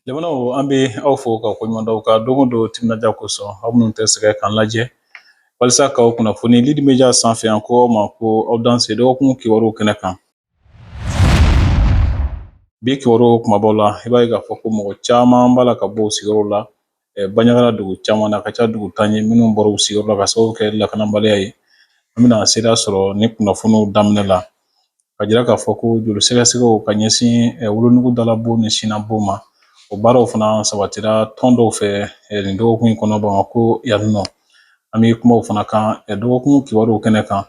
Lamɛnnaw an bɛ aw fo ka koɲuman dɔn aw ka don o don timinandiya kosɔn aw minnu tɛ sɛgɛn k'an lajɛ walasa k'aw kunnafoni Lidi Media sanfɛ yan ko aw ma ko aw danse dɔgɔkun kibaruw kɛnɛ kan bi kibaruw kumabaw la i b'a ye k'a fɔ ko mɔgɔ caman b'a la ka bɔ u sigiyɔrɔw la banjagara dugu caman na ka ca dugu tan ye minnu bɔra u sigiyɔrɔ la ka sababu kɛ lakanabaliya ye an bɛna se sɔɔni kunnafoniw daminɛ la ka jira k'a fɔ ko joli sɛgɛsɛgɛ ka ɲɛsin wolonugu da la bɔn ni sin na bɔn ma o baaraw fana sabatira tɔn dɔw fɛ nin dɔgɔkun in kɔnɔ bamakɔ yan nɔ an bɛ kuma o fana kan dɔgɔkun kibaruw kɛnɛ kan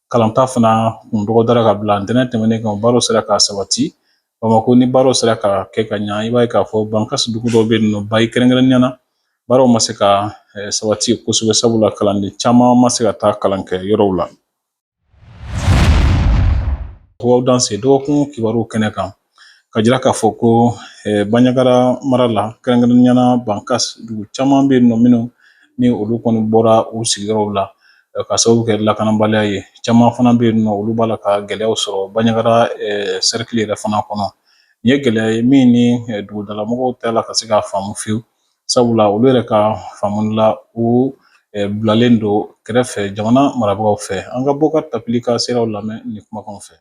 kalanta fana kun dɔgɔdara ka bila ntɛnɛn tɛmɛnen kan baaraw sera ka sabati bamakɔ ni baaraw sera ka kɛ ka ɲa i b'a ye k'a fɔ bankasi dugu dɔw bɛ yen nɔ bayi kɛrɛnkɛrɛnnenya na baaraw ma se ka eh, sabati kosɛbɛ sabula kalanden caman ma se ka taa kalankɛyɔrɔw la aw danse dɔgɔkun kibaruw kɛnɛ kan ka jira k'a fɔ ko banjagara mara la kɛrɛnkɛrɛnnenya na bankasi dugu caman bɛ yen nɔ minnu ni olu kɔni bɔra u sigiyɔrɔw la ka sababu kɛ lakanabaliya ye caman fana bɛ yen nɔ olu b'a la ka gɛlɛya sɔrɔ banjagara sɛrikili yɛrɛ fana kɔnɔ nin ye gɛlɛya ye min ni dugudamɔgɔ tɛ la ka se k'a faamu fewu sabula olu yɛrɛ ka faamu la u bilalen don kɛrɛfɛ jamana marabagaw fɛ an ka bɔkar tapili ka sew lamɛn nin kumakan fɛ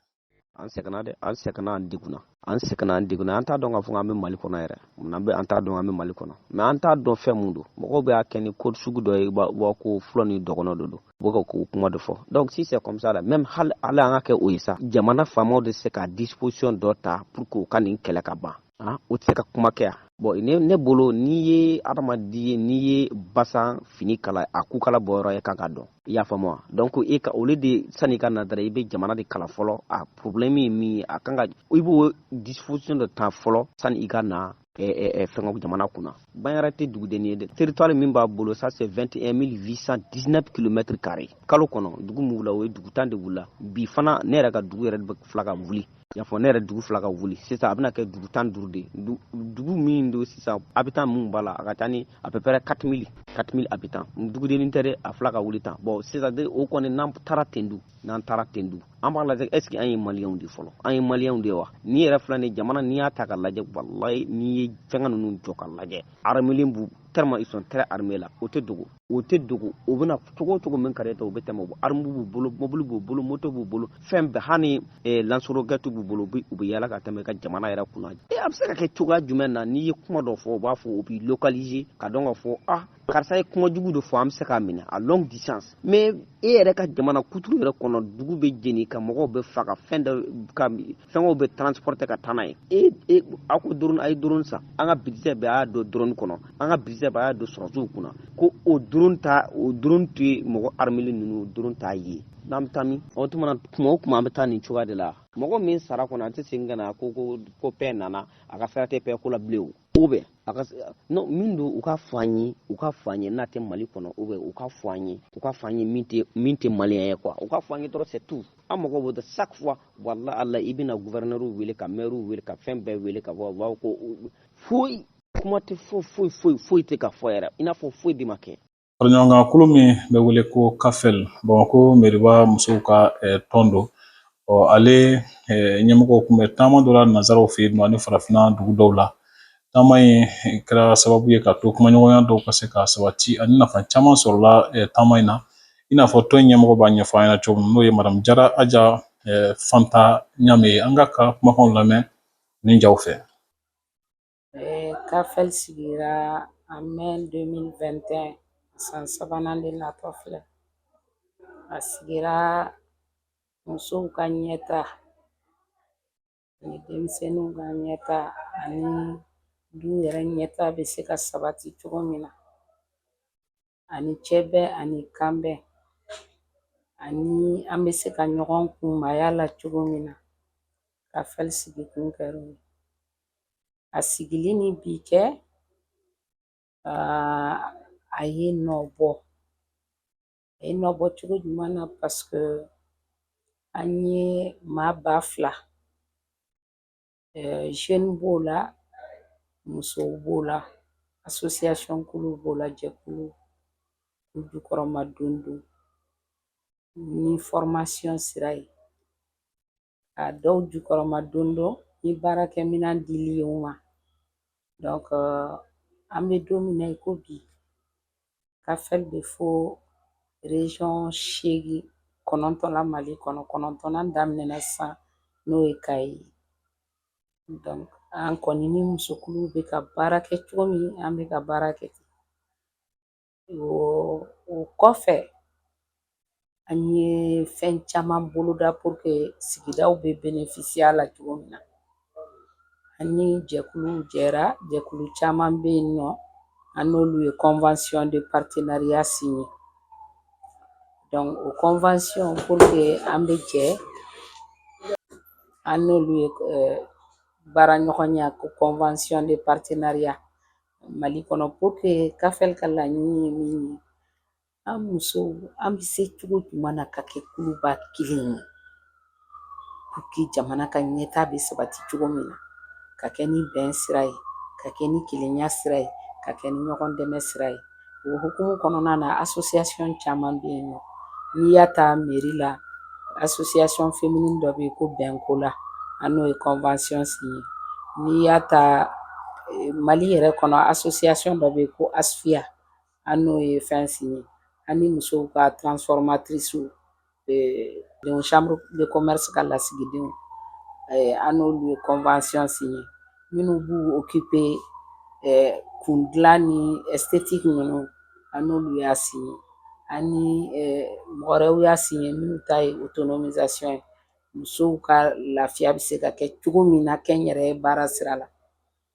an sɛgɛnna dɛ an sɛgɛnna an degunna an sɛgɛnna an degunna an t'a dɔn k'a fɔ an bɛ mali kɔnɔ yɛrɛ munna bɛ an t'a dɔn an bɛ mali kɔnɔ mais an t'a dɔn fɛn mun don mɔgɔw bɛ a kɛ ni ko sugu dɔ ye b'a ko fula ni dɔgɔnɔ de don u bɛ ka o kuma de fɔ donc si c'est comme ça là même hali an ka kɛ o ye sa jamana faamaw de se ka disposition dɔ ta pour que u ka nin kɛlɛ ka ban ah, o tɛ se ka kuma kɛ yan bɔn ne, ne bolo n'i ye adamaden ye n'i ye basa fini kala a kukala bɔyɔrɔ ye kan k'a dɔn i y'a faamu wa donc e ka olu de sani i ka na dara i bɛ jamana de kala fɔlɔ a problème ye min ye a kan ka i b'o disposition de ta fɔlɔ sani i ka na fɛngɛ jamana kunna banyara tɛ dugudennin ye dɛ territoire min b'a bolo ça c'est 21 819 km carré kalo kɔnɔ dugu min wula o ye dugu tan de wula bi fana ne yɛrɛ ka dugu yɛrɛ de bɛ fila ka wuli y'a fɔ ne yɛrɛ dugu fila ka wuli sisan a bɛna kɛ dugu tan duuru de dugu min don sisan habitants minnu b'a la a ka ca ni à peu près 4 000 4 000 habitants dugudennin tɛ dɛ a fila ka wuli tan bɔn sisan de o kɔni n'an taara ten dun n'an taara ten dun an b'a lajɛ est-ce que an ye maliyɛnw de fɔlɔ an ye maliyɛnw de wa ni yɛrɛ filɛ nin jamana n'i y'a ta k'a lajɛ walayi n'i ye fɛngɛ ninnu jɔ ka lajɛ armelen b'u tellement ils sont très armés là o tɛ dogo o tɛ dogo o bɛna cogo cogo min kare ta o bɛ tɛmɛ armu b'u bolo mobili b'u bolo moto b'u bolo fɛn bɛɛ hali eh, lance-roquette b'u bolo u bɛ yala ka tɛmɛ ka jamana yɛrɛ kunna e a bɛ se ka kɛ cogoya jumɛn na n'i ye kuma dɔ fɔ u b'a fɔ o b'i localiser ka dɔn ka fɔ ah karisa ye kuma jugu dɔ fɔ an bɛ se k'a minɛ à longue distance mais e yɛrɛ ka jamana kuturu yɛrɛ kɔnɔ dugu bɛ jeni ka mɔgɔw bɛɛ faga fɛn dɔ ka fɛngɛw bɛɛ transporter ka taa n'a ye e e a ko drone a ye drone san an ka budget bɛɛ y'a don drone kɔnɔ an ka budget bɛɛ y'a don sɔrɔdasiw kunna ko o drone ta o drone t'o ye mɔgɔ armelen ninnu drone t'a ye n'an bɛ taa min o tuma na tuma o tuma an bɛ taa nin cogoya de la mɔgɔ min sara kɔnɔ a tɛ segin ka na ko ko ko paix nana a ka sira tɛ paix ko la bilen o ou bien a ka non min don u ka fɔ an ye u ka fɔ an ye n'a tɛ mali kɔnɔ ou bien u ka fɔ an ye u ka fɔ an ye min tɛ min tɛ maliyɛn ye quoi u ka fɔ an ye dɔrɔn c'est tout an mago b'o de chaque fois wala ala i bɛna gouverneurs wele ka maires wele ka fɛn bɛɛ wele ka bɔ bawo ko foyi kuma tɛ foyi foyi foyi foyi tɛ ka fɔ yɛrɛ i n'a fɔ foyi de ma kɛ faraɲɔgɔnkan kulu min bɛ wele ko kafɛl bamakɔ meriba musow ka eh, tɔn don ɔ ale eh, ɲɛmɔgɔw tun bɛ taama dɔ la nanzaraw fɛ yen nɔ ani farafinna dugu dɔw la taama in eh, kɛra sababu ye ka to kumaɲɔgɔnya dɔw ka se ka sabati ani nafa caman sɔrɔla taama in na i n'a fɔ tɔn in ɲɛmɔgɔ b'a ɲɛfɔ an ɲɛna cogo min n'o ye madamu jara aja fanta ɲame ye an k'a ka kumakanw lamɛn nin jaw fɛ kafɛl sigira en mai 2021 san sabanan de natɔ filɛ a sigira musow ka ɲɛtaa ani denmisɛnninw ka ɲɛtaa ani du yɛrɛ ɲɛtaa bɛ se ka sabati cogo min na ani cɛ bɛn ani kanbɛn ani an bɛ se ka ɲɔgɔn kunmaya la cogo min na kafɛl sigikun kɛra o ye a sigili ni bi cɛ a ye nɔ bɔ a ye nɔ bɔ cogo jumɛn na paseke an ye maa ba fila zeni b'o la musow b'o la asosiyasɔnkulu b'o la jɛkulu k'u jukɔrɔmadondon ni fɔrɔmasiyon sira ye ka dɔw jukɔrɔmadondon ni baarakɛminɛn dili ye u ma dɔnke an bɛ don min na i ko bi kafɛl bɛ fo reziyɔn seegin kɔnɔntɔn la mali kɔnɔ kɔnɔntɔnnan daminɛna san n'o ye kayi ye dɔnke an kɔni ni musokulu bɛ ka baara kɛ cogo min an bɛ ka baara kɛ ten o kɔfɛ An ye fɛn caman boloda pour que sigidaw bɛ bénéficier a la cogo min na, an ni jɛkulu jɛra, jɛkulu caman bɛ yen nɔ, an n'olu ye convention de partenariat signer donc o convention pour que an bɛ jɛ an n'olu ye baaraɲɔgɔnya ko convention de partenariat Mali kɔnɔ pour que CAFL ka laɲini ye min ye An musow an bɛ se cogo jumɛn na ka kɛ kuluba kelen ye pour que jamana ka ɲɛta bɛ sabati cogo min na ka kɛ ni bɛn sira ye ka kɛ ni kelenya sira ye ka kɛ ni ɲɔgɔn dɛmɛ sira ye o hukumu kɔnɔna na association caman bɛ yen nɔ n'i y'a ta mairie la association féminine dɔ bɛ yen ko Bɛnkola an n'o ye convention signé n'i y'a ta Mali yɛrɛ kɔnɔ association dɔ bɛ yen ko ASFIA an n'o ye fɛn signer an ni musow ka transformatricew chambre de commerce ka lasigidenw an n'olu ye convention signer minnu b'u occuper kundilan ni esthétique ninnu an n'olu y'a signer an ni mɔgɔw y'a signer minnu ta ye autonomisation ye musow ka lafiya bɛ se ka kɛ cogo min na kɛnyɛrɛ baara sira la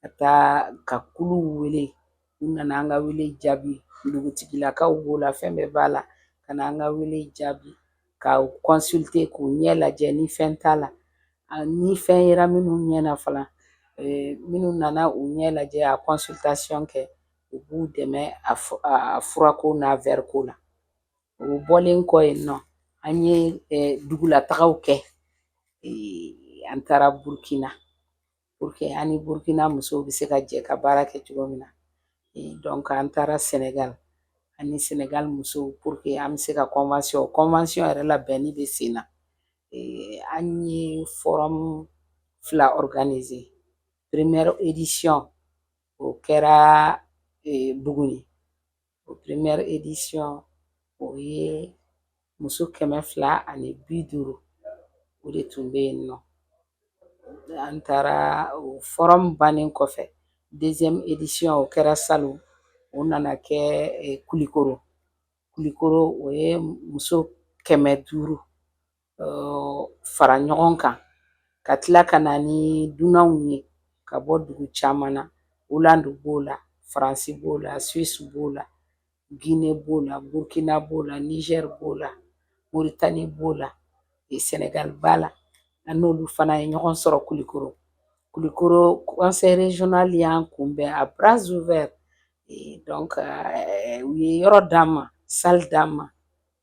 ka taa ka kulu wele u nana an ka wele jaabi dugutigilakaw b'o la fɛn bɛɛ b'a la ka na an ka wele jaabi ka consulter k'u ɲɛ lajɛ ni fɛn t'a la ni fɛn yera minnu ɲɛ na fana minnu nana u ɲɛ lajɛ a consultation kɛ u b'u dɛmɛ a furako n'a verreko la o bɔlen kɔ yen nɔ an ye dugulataga kɛ an taara burkina pour que an ni burkina musow bɛ se ka jɛ ka baara kɛ cogo min na donc an taara senegal an ni senegal musow pour que an bɛ se ka convention convention yɛrɛ labɛnni bɛ sen na an ye forum fila organiser première édition o kɛra buguni O première édition o ye muso kɛmɛ fila ani bi duuru o de tun bɛ yen nɔ an taara o forum bannen kɔfɛ deuxième édition o kɛra salon o nana kɛ kulukɔrɔ kulukɔrɔ o ye muso kɛmɛ duuru fara ɲɔgɔn kan ka tila ka na ni dunanw ye ka bɔ dugu caman na olandi b'o la faransi b'o la suwisi b'o la gine b'o la burkina b'o la nizɛri b'o la moritani b'o la sɛnɛgali b'a la an n'olu fana ye ɲɔgɔn sɔrɔ kulukɔrɔ kulukɔrɔ conseil régional y'an kunbɛn à bras ouverts donc u ye yɔrɔ d'an ma salle d'an ma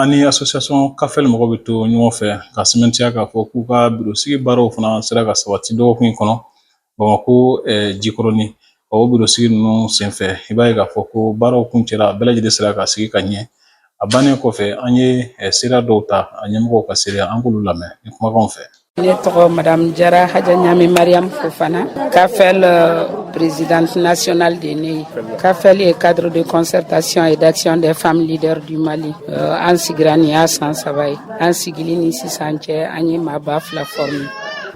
An ni association CAFEL mɔgɔ bɛ to ɲɔgɔn fɛ ka sɛmɛntiya k'a fɔ k'u ka birosigi baaraw fana sera ka sabati dɔgɔkun in kɔnɔ Bamako jikɔrɔni o birosigi ninnu senfɛ i b'a ye k'a fɔ ko baaraw kuncɛra bɛɛ lajɛlen sera ka sigi ka ɲɛ a bannen kɔfɛ an ye seereya dɔw ta a ɲɛmɔgɔw ka seereya an k'olu lamɛn ni kumakanw fɛ ne tɔgɔ madame jara haja ɲami mariam fofana kafel euh, présidente nationale de ne ye kafel ye cadre de concertation et d'action des femmes leaders du mali euh, an sigira nin y'a san saba ye an sigili ni sisan cɛ an ye maa ba fila forme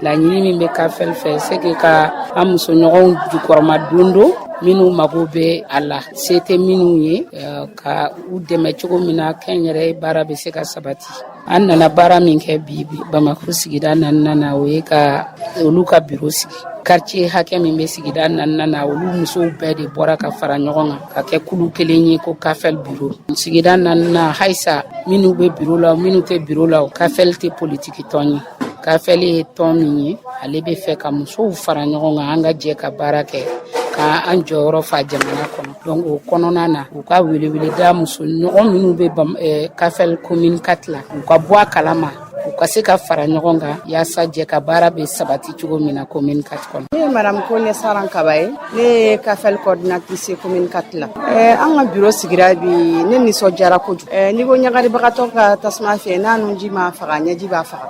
laɲini min bɛ kafel fɛ c'est que ka an musoɲɔgɔnw jukɔrɔmadondon minnu mago bɛ a la se tɛ minnu ye eh, ka u dɛmɛ cogo min na kɛnyɛrɛ baara bɛ se ka sabati an nana baara min kɛ bi bamakɔ sigida naaninan na o ye ka olu ka biro sigi kartiye hakɛ min bɛ sigida naaninan na olu musow bɛɛ de bɔra ka fara ɲɔgɔn kan ka kɛ kulu kelen ye ko kafɛli biro sigida naaninan halisa minnu bɛ biro la minnu tɛ biro la o kafɛli tɛ politiki tɔn ye kafɛli ye tɔn min ye ale bɛ fɛ ka musow fara ɲɔgɔn kan an ka jɛ ka baara kɛ ka an jɔyɔrɔ fa jamana kɔnɔ Donc o kɔnɔna na u ka welewele da musoɲɔgɔn minnu bɛ kafɛli commune quatre la u ka bɔ a kala ma u ka se ka fara ɲɔgɔn kan walasa jɛkabaara bɛ sabati cogo min na commune quatre kɔnɔ ne ye madame kɔnɛ saran kaba ye ne ye kafɛli coordinatrice commune quatre la an ka biro sigira bi ne nisɔndiyara kojugu ni ko ɲagaribagatɔ ka tasuma fiyɛ n'a nunji m'a faga ɲɛji b'a faga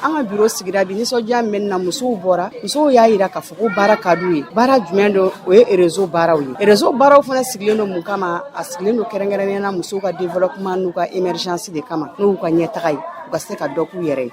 an ka biro sigira bi nisɔndiya bɛ n na musow bɔra musow y'a jira k'a fɔ Donc baara ka d'u ye baara jumɛn don o ye rezo baaraw ye rezo baaraw fana sigilen don mun kama a sigilen don kɛrɛnkɛrɛnnenya la musow ka développement n'u ka émergence de kama n'u ka ɲɛtaga ye u ka se ka dɔ k'u yɛrɛ ye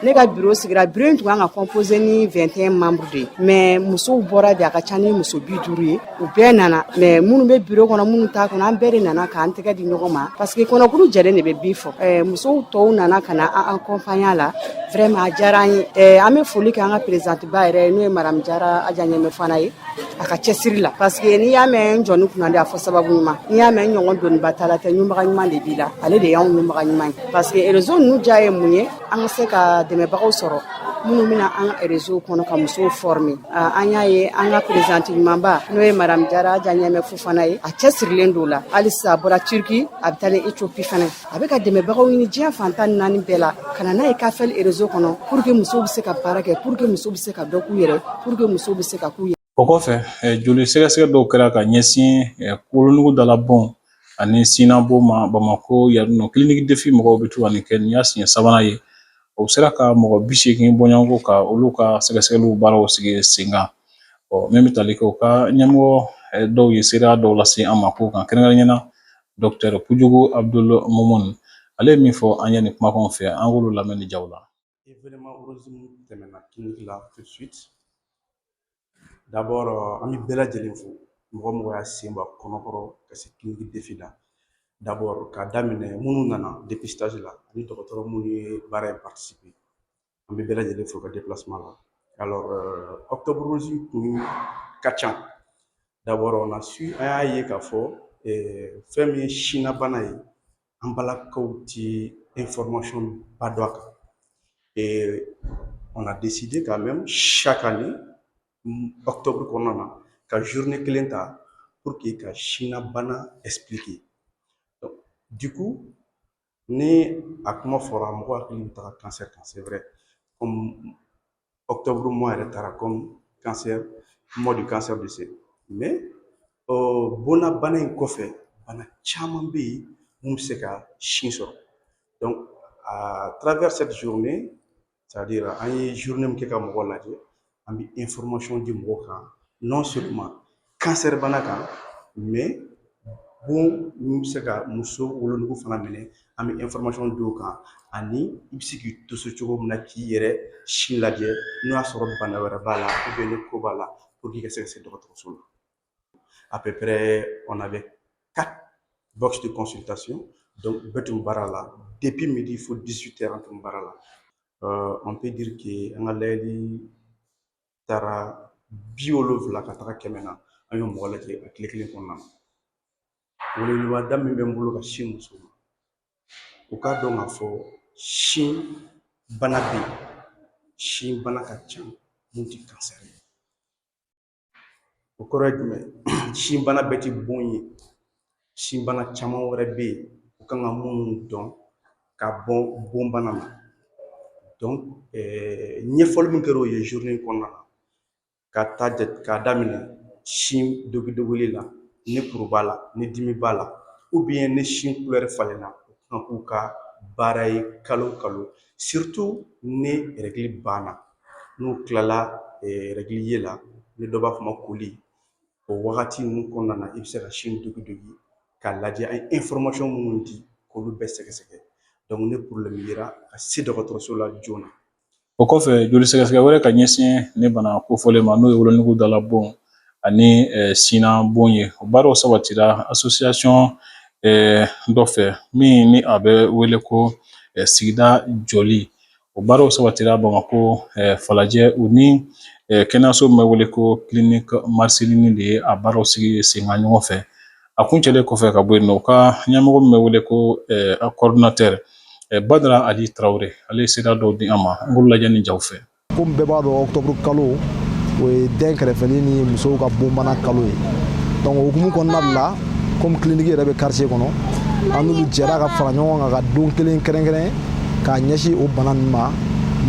ne ka biro sigira biro in tun ka kan ka composé ni 21 membres de ye mais musow bɔra dɛ a ka ca ni muso bi duuru ye u bɛɛ nana maa minnu bɛ biro kɔnɔ minnu t'a kɔnɔ an bɛɛ de nana k'an tɛgɛ di ɲɔgɔn ma paseke kɔnɔkulu jɛlen de bɛ bii fɔ musow tɔw nana ka na an kɔnpaɲe la vraiment a diyara an ye an bɛ foli kɛ an ka présidente ba yɛrɛ n'o ye madame jara aja ɲɛmɛ fofana ye a ka cɛsiri la paseke n'i y'a mɛn jɔnni kunnandi a fɔ sababu ɲuman n'i y'a mɛn ɲɔgɔn doniba tala tɛ ɲunbaga ɲuman de b'i la ale de y'an ɲunbaga ɲuman ye paseke rezo ninnu diya ye mun ye an ka se ka dɛmɛbagaw sɔrɔ minnu bɛ na an ka rezo kɔnɔ ka musow fɔrɔme an y'a ye an ka présidente ɲumanba n'o ye madame jara aja ɲɛmɛ fofana ye a cɛsirilen don a la halisa a bɔra Turquie a bɛ taa l'Éthiopie fana a bɛ ka dɛmɛbagaw ɲini diɲɛ fan tan ni naani bɛɛ la ka na n'a ye kafeli rezo kɔnɔ pour que muso bɛ se ka baara kɛ pour que muso bɛ se ka dɔ k'u yɛrɛ pour que muso bɛ se ka k'u yɛrɛ O kɔfɛ joli sɛgɛsɛgɛ dɔw kɛra ka ɲɛsin wolonugu dalabon ani sinabon ma bamakɔ yan nɔ clinique defi ɲɛmɔgɔw bɛ to ka nin kɛ nin y'a siɲɛ sabanan ye o sera ka mɔgɔ bi seegin bɔɲɔgɔnko ka olu ka sɛgɛsɛgɛli baaraw sigi sen kan ɔ min bɛ taali kɛ u ka ɲɛmɔgɔ dɔw ye se dɔw lase an ma kɛrɛnkɛrɛnnenya la docteur Kojugu Abdul Mumini ale ye min fɔ an ɲɛ nin kumakan fɛ an k'a lamɛn ni ja la événement rose min tɛmɛna clinique la tout de suite d'abord euh, an bɛ bɛɛ lajɛlen fo mɔgɔ o mɔgɔ y'a sen bɔ ɲɔgɔn kɔrɔ ka se clinique defi la d'abord k'a daminɛ minnu nana dépistage la ani dɔgɔtɔrɔ minnu ye baara in participer an bɛ bɛɛ lajɛlen fo u ka déplacement la alors euh, octobre rose kun ka ca d'abord on a su an y'a ye k'a fɔ eh, fɛn min ye sinabana ye an balakaw ti information ba dɔn a kan et on a décidé quand même chaque année octobre kɔnɔna na ka journée kelen ta pour que ka sina bana expliquer donc du coup ni a kuma fɔra mɔgɔ hakili bɛ taga cancer kan c'est vrai comme octobre mois yɛrɛ taara comme cancer mois du cancer du sein mais bonna bana in kɔfɛ bana caman bɛ yen minnu bɛ se ka sin sɔrɔ donc à travers cette journée c'est à dire an ye journée min kɛ ka mɔgɔ lajɛ an bɛ information di mɔgɔw kan non seulement kansɛri bana kan mais bon min bɛ se ka muso wolonugu fana minɛ an bɛ information di o kan ani i bɛ se k'i to so cogo min na k'i yɛrɛ sin lajɛ n'o y'a sɔrɔ bana wɛrɛ b'a la ni kuru b'a la i ka se ka se dɔgɔtɔrɔso la à peu près on avait quatre box de consultation donc bɛɛ tun baara la depuis midi fo 18 heures an tun baara la on peut dire que an ka lajɛli taara bi wolonfila ka taga kɛmɛ na an ye mɔgɔ lajɛ a tile kelen kɔnɔna na weleweleda min bɛ n bolo ka sin musow ma u k'a dɔn k'a fɔ sin bana bɛ yen sin bana ka ca minnu tɛ kansɛri ye o kɔrɔ ye jumɛn sin bana bɛɛ tɛ bon ye sinbana caman wɛrɛ bɛ yen u kan ka minnu dɔn ka bɔ bonbana na ɲɛfɔli min kɛra u ye journée kɔnɔna na ka taa jate k'a daminɛ sin digidigili la ni kuru b'a la ni dimi b'a la ou bien ni sin kulɛri falenna u kan k'u ka baara ye kalo o kalo surtout ni rɛgili banna n'u tilala rɛgili yeli la ni dɔ b'a fɔ a ma koli o wagati ninnu kɔnɔna na i bɛ se ka sin digidigi k'a lajɛ an ye minnu di k'olu bɛɛ sɛgɛsɛgɛ ni porobilɛmu yera ka se dɔgɔtɔrɔso la joona o kɔfɛ joli sɛgɛsɛgɛ wɛrɛ ka ɲɛsin nin bana kofɔlen ma n'o ye wolonugu da la bon ani sin na bon ye o baaraw sabatira asosiyasɔn dɔ fɛ min ni a bɛ wele ko sigida jɔli O baaraw sabatira Bamakɔ falajɛ u ni kɛnɛyaso min bɛ wele ko clinique Marcelini de ye a baaraw sigi senkan ɲɔgɔn fɛ. A kuncɛlen kɔfɛ ka bɔ yen nɔ, u ka ɲɛmɔgɔ min bɛ wele ko coordinateur Badara Ali Tarawele, ale ye seereya dɔw di an ma, an k'olu lajɛ nin jaw fɛ. Komi bɛɛ b'a dɔn octobre kalo, o ye den kɛrɛfɛli ni musow ka bonbana kalo ye. Donc o hukumu kɔnɔna de la, komi clinique yɛrɛ bɛ quartier kɔnɔ, an n'olu jɛra ka fara ɲɔgɔn kan ka don kelen kɛrɛnkɛrɛn k'a ɲɛsin o bana ninnu ma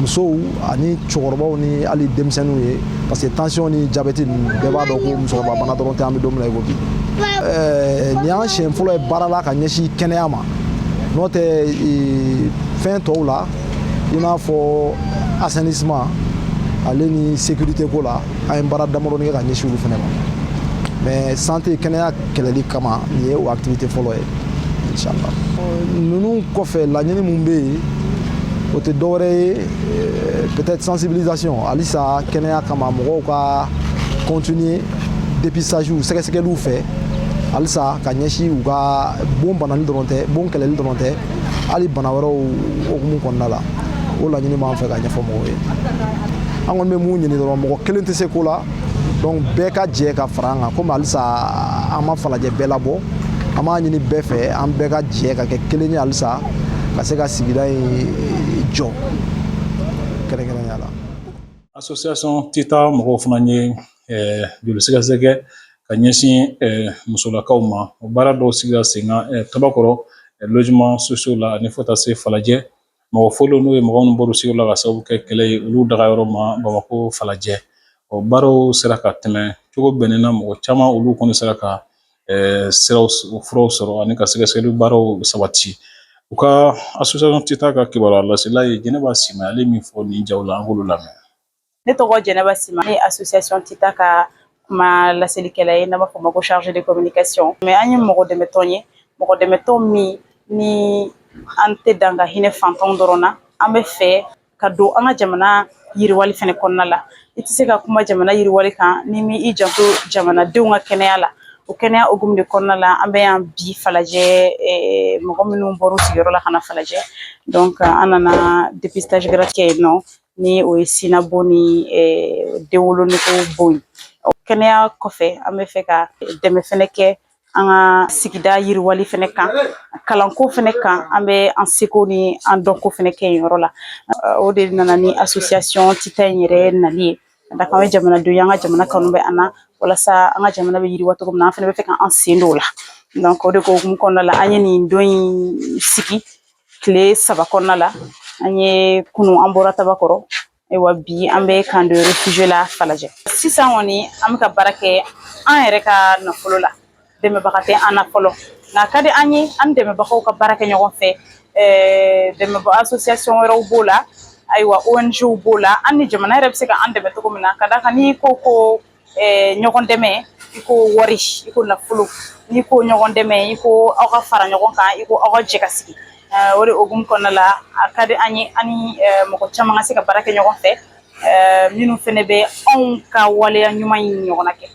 musow ani cɛkɔrɔbaw ni hali denmisɛnninw ye parce que tension ni jabɛti ninnu bɛɛ b'a dɔn ko musokɔrɔba bana dɔrɔn tɛ an bɛ don min na i ko bi nin y'an siɲɛ fɔlɔ ye baara la ka ɲɛsin kɛnɛya ma n'o tɛ fɛn tɔw la i n'a fɔ assainissement ale ni sécurité ko la an ye baara damadɔnin kɛ ka ɲɛsin olu fana ma mais santé kɛnɛya kɛlɛli kama nin ye o activité fɔlɔ ye inchallah ninnu kɔfɛ laɲini min bɛ yen o tɛ dɔwɛrɛ ye euh, peut-être sensibilisation halisa kɛnɛya kama mɔgɔw ka continuer dépistage sɛgɛsɛgɛliw fɛ halisa ka ɲɛsin u ka bon banani dɔrɔn tɛ bon kɛlɛli dɔrɔn tɛ hali bana wɛrɛw hukumu kɔnɔna la o laɲini b'an fɛ ka ɲɛfɔ mɔgɔw ye an kɔni bɛ mun ɲini dɔrɔn mɔgɔ kelen tɛ se ko la donc bɛɛ ka jɛ ka fara an kan komi halisa an ma falajɛ bɛɛ labɔ an b'a ɲini bɛɛ fɛ an bɛɛ ka jɛ ka kɛ kelen ye halisa ka se ka sigida in jɔ kɛrɛnkɛrɛnya la association tita mɔgɔw fana ye eh, joli sɛgɛsɛgɛ ka ɲɛsin eh, musolakaw ma o baara dɔw sigira senkan eh, tabakɔrɔ logements sociaux la ani fo taa se falajɛ mɔgɔ fɔlɔ n'o ye mɔgɔ minnu bɔr'u sigi la k'a sababu kɛ kɛlɛ ye olu dagayɔrɔ ma bamakɔ falajɛ o baaraw sera ka tɛmɛ cogo bɛnnen na mɔgɔ caman olu kɔni sera ka siraw furaw sɔrɔ ani ka sɛgɛsɛgɛli baaraw sabati u ka association tita ka kibaruya lasela ye jɛnɛba sima ale min fɔ nin ja la an k'olu lamɛn ne tɔgɔ jɛnɛba sima ne association tita ka kuma laselikɛla ye n'a b'a fɔ ma ko chargée de communication mais an ye mɔgɔ dɛmɛtɔn ye mɔgɔ dɛmɛtɔn min ni an tɛ dan ka hinɛ fantan dɔrɔn na an bɛ fɛ ka don an ka jamana yiriwali fɛnɛ kɔnɔna la i tɛ se ka kuma jamana yiriwali kan n'i m'i janto jamanadenw ka kɛnɛya la o kɛnɛya hukumu de kɔnɔna la an bɛ yan bi falajɛ eh, mɔgɔ minnu bɔr'u sigiyɔrɔ la ka na falajɛ donc an nana dépistage gratuit kɛ yen nɔ ni o ye sin na bon ni den wolonugu bon ye kɛnɛya kɔfɛ an bɛ fɛ ka dɛmɛ fɛnɛ kɛ an ka sigida yiriwali fɛnɛ kan kalanko fɛnɛ kan an bɛ an seko ni an dɔnko fɛnɛ kɛ yen yɔrɔ la o de nana ni association tita in yɛrɛ nali ye ka d'a kan an ye jamanaden ye an ka jamana kanu bɛ an na walasa an ka jamana bɛ yiriwa cogo min na an fɛnɛ bɛ fɛ ka an sen don o la donc o de ko hukumu kɔnɔna la an ye nin don in sigi Tile saba kɔnɔna la an ye kunu an bɔra tabakɔrɔ ayiwa bi an bɛ camp de réfugiés la falajɛ sisan kɔni an bɛ ka baara kɛ an yɛrɛ ka nafolo la dɛmɛbaga tɛ an na fɔlɔ nka ka di an ye an dɛmɛbagaw ka baara kɛ ɲɔgɔn fɛ dɛmɛbaa association wɛrɛw b'o la ayiwa ONGw b'o la ani jamana yɛrɛ bɛ se ka an dɛmɛ cogo min na ka d'a kan n'i ko ko eh, ɲɔgɔn dɛmɛ i ko wari i ko nafolo n'i ko ɲɔgɔn dɛmɛ i ko aw ka fara ɲɔgɔn kan i ko aw ka jɛ ka sigi eh, o de hukumu kɔnɔna la a ka di an ye an ni eh, mɔgɔ caman ka se ka baara kɛ ɲɔgɔn fɛ minnu fɛnɛ bɛ anw ka waleya ɲuman in ɲɔgɔnna kɛ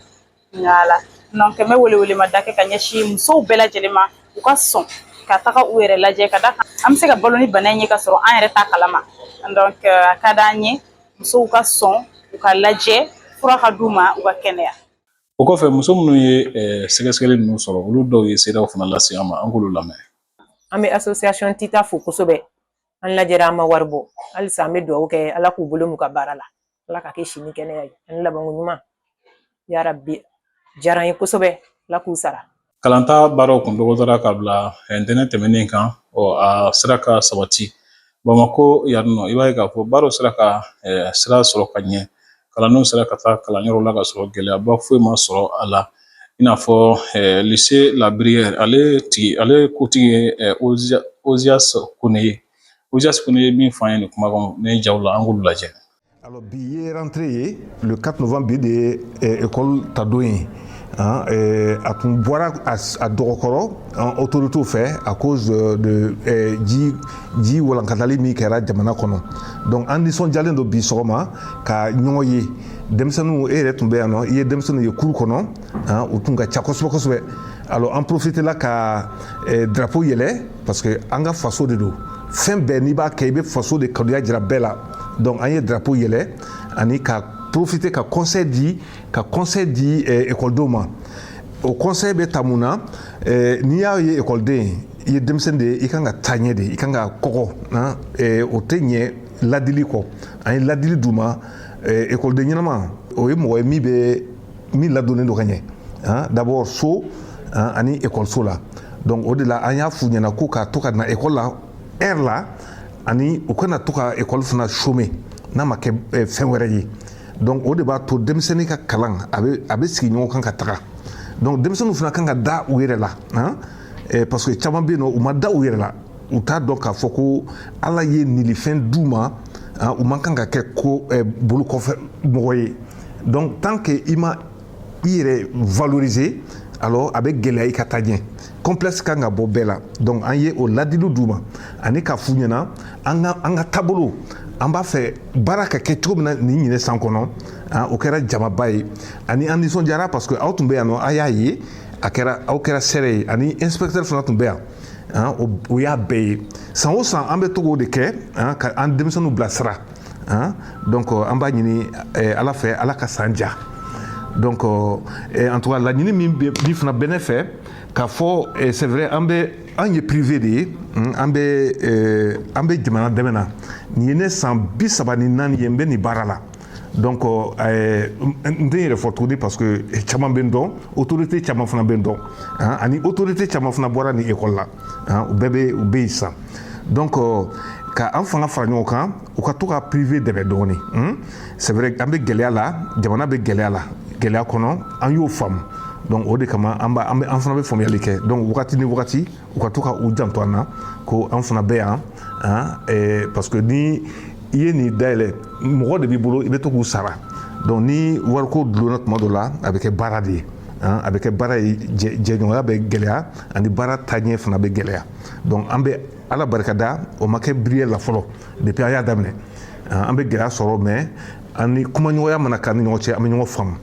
nka donc n bɛ welewelemada kɛ ka ɲɛsin musow bɛɛ lajɛlen ma u ka sɔn ka taga u yɛrɛ lajɛ ka da kan an bɛ se ka balo ni bana in ye ka sɔrɔ an yɛrɛ t'a kalama donc a ka d'an ye musow ka sɔn u ka lajɛ fura ka d'u ma u ka kɛnɛya o kɔfɛ muso minnu ye eh, sɛgɛsɛgɛli ninnu sɔrɔ olu dɔw ye seerew fana lase an ma an k'olu lamɛn an bɛ association tita fo kosɛbɛ an lajɛra an ma wari bɔ halisa an bɛ dugawu kɛ ala k'u bolo mɛɛn u ka baara la ala k'a kɛ si ni kɛnɛya ye ani labanko ɲuman yara bi diyara an ye kosɛbɛ ala k'u sara kalanta baaraw kun dɔgɔdara ka bila ntɛnɛn tɛmɛnen kan ɔ a sera ka sabati bamakɔ yan nɔ i b'a ye k'a fɔ baaraw sera ka sira sɔrɔ ka ɲɛ kalandenw sera ka taa kalanyɔrɔ la ka sɔrɔ gɛlɛyaba foyi ma sɔrɔ a la i n'a fɔ lycée La Bruyère ale tigi ale kotigi ye ozias kone ye ozias kone ye min fɔ an ye nin kuma kɔnɔ nin jaw la an k'olu lajɛ Alors bi ye rentrée ye le 4 novembre bi de ye eh, école ta don ye hein, eh, a tun bɔra a s- a dɔgɔkɔrɔ an autorités fɛ à cause de, de eh, ji ji walankatali min kɛra jamana kɔnɔ donc an nisɔndiyalen don bi sɔgɔma ka ɲɔgɔn ye denmisɛnninw e yɛrɛ tun bɛ yan nɔ i ye denmisɛnninw ye kuru kɔnɔ hein, u tun ka ca kosɛbɛ kosɛbɛ alors an profitela ka eh, drapeau yɛlɛ parce que an ka faso de don fɛn bɛɛ n'i b'a kɛ i bɛ faso de kanuya jira bɛɛ la donc an ye drapeau yɛlɛ ani ka profiter ka conseil di ka conseil di eh, ekɔlidenw ma o conseil bɛ taa mun na eh, n'i y'a ye ekɔliden i ye denmisɛnnin de ye i kan ka taa ɲɛ de i kan ka kɔgɔ na eh, o tɛ ɲɛ ladili kɔ an ye ladili d'u ma ekɔliden ɲɛnama o ye mɔgɔ ye min bɛ min ladonnen don ka ɲɛ d'abord so ani ekɔliso la donc o de la an y'a f'u ɲɛna ko ka to ka na ekɔli la heure la ani u kana to ka école fana chômer n'a ma kɛ fɛn wɛrɛ ye donc o de b'a to denmisɛnnin ka kalan a bɛ sigi ɲɔgɔn kan ka taga donc denmisɛnninw fana kan ka da u yɛrɛ la parce que caman bɛ yen u ma da u yɛrɛ la u t'a dɔn k'a fɔ ko ala ye nilifɛn d'u ma u man kan ka kɛ ko bolokɔfɛmɔgɔ ye donc tant que i ma i yɛrɛ valoriser alors a bɛ gɛlɛya i ka taa ɲɛ complexe kan ka bɔ bɛɛ la donc an ye o ladiliw d'u ma ani k'a f'u ɲɛna an ka an ka taabolo an b'a fɛ baara ka kɛ cogo min na nin ɲinɛ san kɔnɔ o kɛra jamaba ye ani an nisɔndiyara parce que aw tun bɛ yan nɔ a y'a ye a kɛra aw kɛra seere ye ani inspecteur fana tun bɛ yan o y'a bɛɛ ye san o san an bɛ to k'o de kɛ ka an denmisɛnninw bilasira Hein? donc euh, an b'a ɲini eh, ala fɛ ala ka san diya donc euh, eh, en tout cas laɲini min bɛ- min fana bɛ ne fɛ k'a fɔ eh, c'est vrai an bɛ an ye privé de ye mm, an bɛ eh, an bɛ jamana dɛmɛ na nin ye ne san bi saba ni naani ye n bɛ nin baara la donc euh, eh, n tɛ n yɛrɛ fɔ tuguni parce que eh, caman bɛ n dɔn autorité caman fana bɛ n dɔn hein, ani autorité caman fana bɔra nin école la u bɛɛ bɛ u bɛ yen san donc an ka an fanga fara ɲɔgɔn kan u ka to ka privé dɛmɛ dɔɔnin c'est an bɛ gɛlɛya la jamana bɛ gɛlɛya la gɛlɛya kɔnɔ an y'o faamu donc o de kama an an fana bɛ faamuyali kɛ donc wagati ni wagati u ka to ka u janto an na ko an fana bɛ yan parce que ni i ye nin dayɛlɛn mɔgɔ de b'i bolo i bɛ to k'u sara donc ni wariko donna tuma dɔ la a bɛ kɛ baara de ye a bɛ kɛ baara ye jɛɲɔgɔnya bɛ gɛlɛya ani baara taɲɛ fana bɛ gɛlɛya donc an bɛ ala barikada o ma kɛ biriye la fɔlɔ depuis an y'a daminɛ an bɛ gɛlɛya sɔrɔ mais an ni kumaɲɔgɔnya mana k'an ni ɲɔgɔn cɛ an bɛ ɲɔgɔn faamu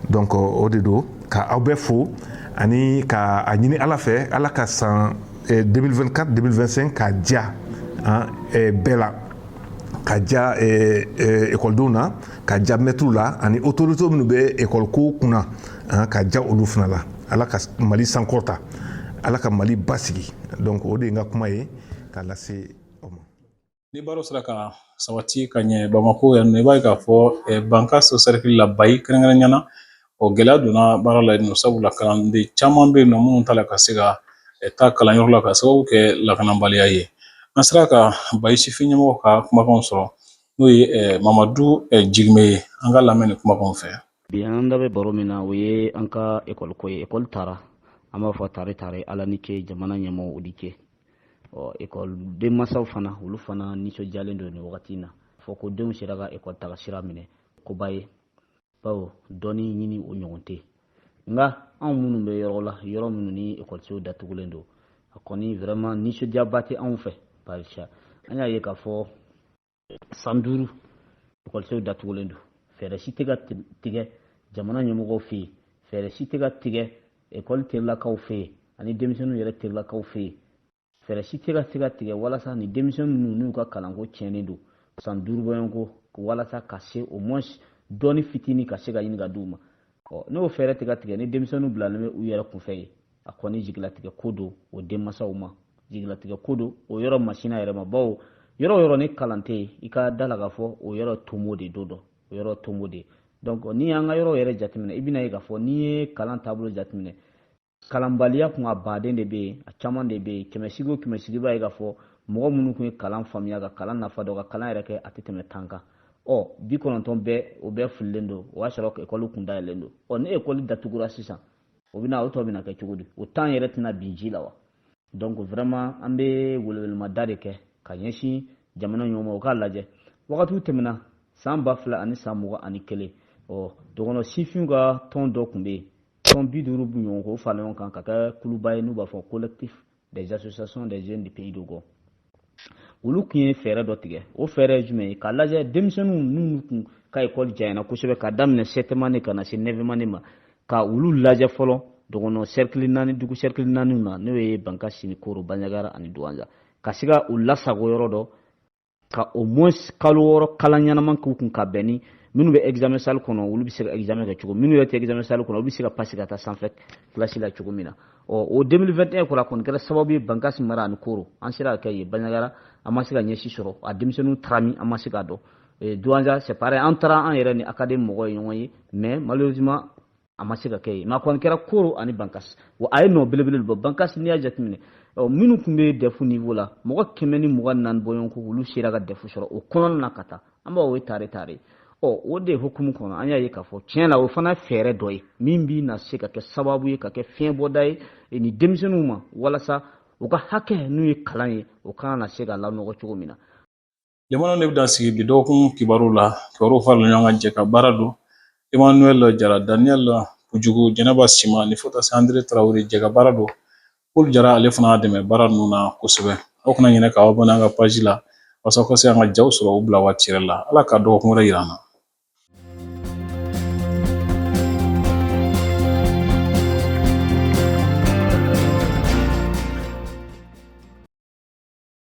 donc o de don ka aw bɛɛ fo ani ka a ɲini ala fɛ ala ka san 2024 2025 ka diya bɛɛ la ka diya ekɔlidenw na ka diya mɛtiriw la ani autorité minnu bɛ ekɔliko kunna a ka diya olu fana la ala ka mali sankɔrɔta ala ka mali basigi donc o de ye n ka kuma ye k'a lase aw ma ni baaraw sera ka sabati ka ɲɛ bamako yan nɔ i b'a ye k'a fɔ eh, bankasi sɛrikili la bayi kɛrɛnkɛrɛnya na o gɛlɛya donna baara la yen nɔ sabula kalanden caman bɛ yen nɔ minnu t'a la ka se ka eh, taa kalanyɔrɔ la ka sababu kɛ lakanabaliya ye an sera ka bayi sifin ɲɛmɔgɔ ka kumakanw sɔrɔ n'o ye eh, mamadu jigime ye an k'a lamɛn nin kumakanw fɛ bi an da bɛ baro min na o ye an ka ekɔli ko ye ekɔli taara an b'a fɔ tare tare ala ni ce jamana ɲɛmɔgɔw ni ce ɔ ekɔli denmansaw fana olu fana nisɔndiyalen don nin wagati in na fɔ k'u denw sera ka ekɔli taga sira minɛ koba ye bawo dɔnni ɲini o ɲɔgɔn tɛ nka anw minnu bɛ yɔrɔ la yɔrɔ minnu ni ekɔlisow datugulen don a kɔni vraiment nisɔndiyaba tɛ anw fɛ barisa an y'a ye k'a fɔ san duuru ekɔlisow datugulen don fɛɛrɛ si tɛ ka tigɛ jamana ɲɛmɔgɔw fɛ yen fɛɛrɛ si tɛ ka tigɛ ekɔli terilakaw fɛ yen ani denmisɛnninw yɛrɛ terilakaw fɛ yen fɛɛrɛ si tɛ ka se ka tigɛ walasa ni denmisɛnnin ninnu n'u ka kalanko tiɲɛnen don san duuru bɔɲɔgɔnko walasa ka se au moins dɔɔni fitini ka se ka ɲini ka di u ma ɔ n'o fɛɛrɛ tɛ ka tigɛ ni denmisɛnninw bilalen bɛ u yɛrɛ kunfɛ yen a kɔni jigilatigɛ ko don o denmansaw ma jigilatigɛ ko don o yɔrɔ masina yɛrɛ ma bawo yɔrɔ o yɔrɔ ni kalan tɛ yen i ka da la k'a fɔ o yɔrɔ tomo de don donc o yɔrɔ tomo de don n'i y'an ka yɔrɔ yɛrɛ jateminɛ i bɛn'a ye k'a fɔ n'i ye kalan taabolo jateminɛ kalanbaliya kun a baden de bɛ yen a caman de bɛ yen kɛmɛsigi o kɛmɛsigi i b'a ye k'a fɔ mɔgɔ minnu tun ye kalan faamuya ka kalan nafa dɔn ka kalan yɛrɛ kɛ a tɛ tɛmɛ tan kan ɔ bi kɔnɔntɔn bɛɛ o bɛɛ fililen don o y'a sɔrɔ ekɔli kun dayɛlɛlen don ɔ ni ekɔli datugura sisan o bɛna o tɔ bɛna kɛ cogo di o tan yɛrɛ tɛna bin ji la wa donc vraiment an bɛ welewelemada de kɛ ka ɲɛsin jamana ɲɛmɔgɔw ma u k'a lajɛ wagatiw tɛmɛna san ba fila ani san mugan ani kelen ɔ dɔgɔnɔ sifinw ka tɔn dɔ tun bɛ yen tɔn bi duuru ɲɔgɔn k'o fara ɲɔgɔn kan ka kɛ kuluba ye n'u b'a fɔ collectif des associations des jeunes du pays Dogon olu tun ye fɛɛrɛ dɔ tigɛ o fɛɛrɛ ye jumɛn ye k'a lajɛ denmisɛnninw n'u kun ka ekɔli janyana kosɛbɛ ka daminɛ septième année ka na se neuvième année ma ka olu lajɛ fɔlɔ dɔgɔnɔ sɛrikili naani dugu sɛrikili naaniw na n'o ye bankasi ni koro banjagara ani duwanza ka se ka u lasago yɔrɔ dɔ ka au moins kalo wɔɔrɔ kalan ɲɛnama k'u kun ka bɛn ni minnu bɛ examen salle kɔnɔ olu bɛ se ka examen kɛ cogo minnu yɛrɛ tɛ examen salle kɔnɔ olu bɛ se ka pasi ka taa sanfɛ kilasi la cogo min na ɔ o 2021 kɔnɔ a kɔni kɛra sababu ye bankasi mara ani koro an sera ka kɛ yen banjagara an ma se ka ɲɛ si sɔrɔ a denmisɛnninw taara min an ma se k'a dɔn duwanza c'est pareil an taara an yɛrɛ ni académie mɔgɔw ye ɲɔgɔn ye mais malheureusement a ma se ka kɛ yen nka a kɔni kɛra koro ani bankas wa a ye nɔ belebele bɔ bankas n'i y'a jateminɛ minnu tun bɛ dɛfu niveau la mɔgɔ kɛmɛ ni mugan naani bɔɲɔgɔnko olu sera ka dɛfu sɔrɔ o kɔnɔna na ka taa an b'o ye tare tare ɔ o de hukumu kɔnɔ an y'a ye k'a fɔ tiɲɛ la o fana fɛɛrɛ dɔ ye min bɛna se ka kɛ sababu ye ka kɛ fiɲɛ bɔda ye e ni denmisɛnninw ma walasa u ka hakɛ n'u ye kalan ye o kana na se ka lanɔgɔ cogo min na Lamɛnnaw nin bɛ dan sigi bi dɔgɔkun kibaruw la kibaruw farala ɲɔgɔn kan jɛ ka baara don Emmanuel Jara Daniel Pujugu Jɛnɛba Sima ni fo taa se Andre Tarawele jɛ ka baara don Paul Jara ale fana y'an dɛmɛ baara ninnu na kosɛbɛ aw kana ɲinɛ k'aw abonné an ka page la walasa aw ka se an ka jaw sɔrɔ u bila waati yɛrɛ la Ala ka dɔgɔkun wɛrɛ yira an na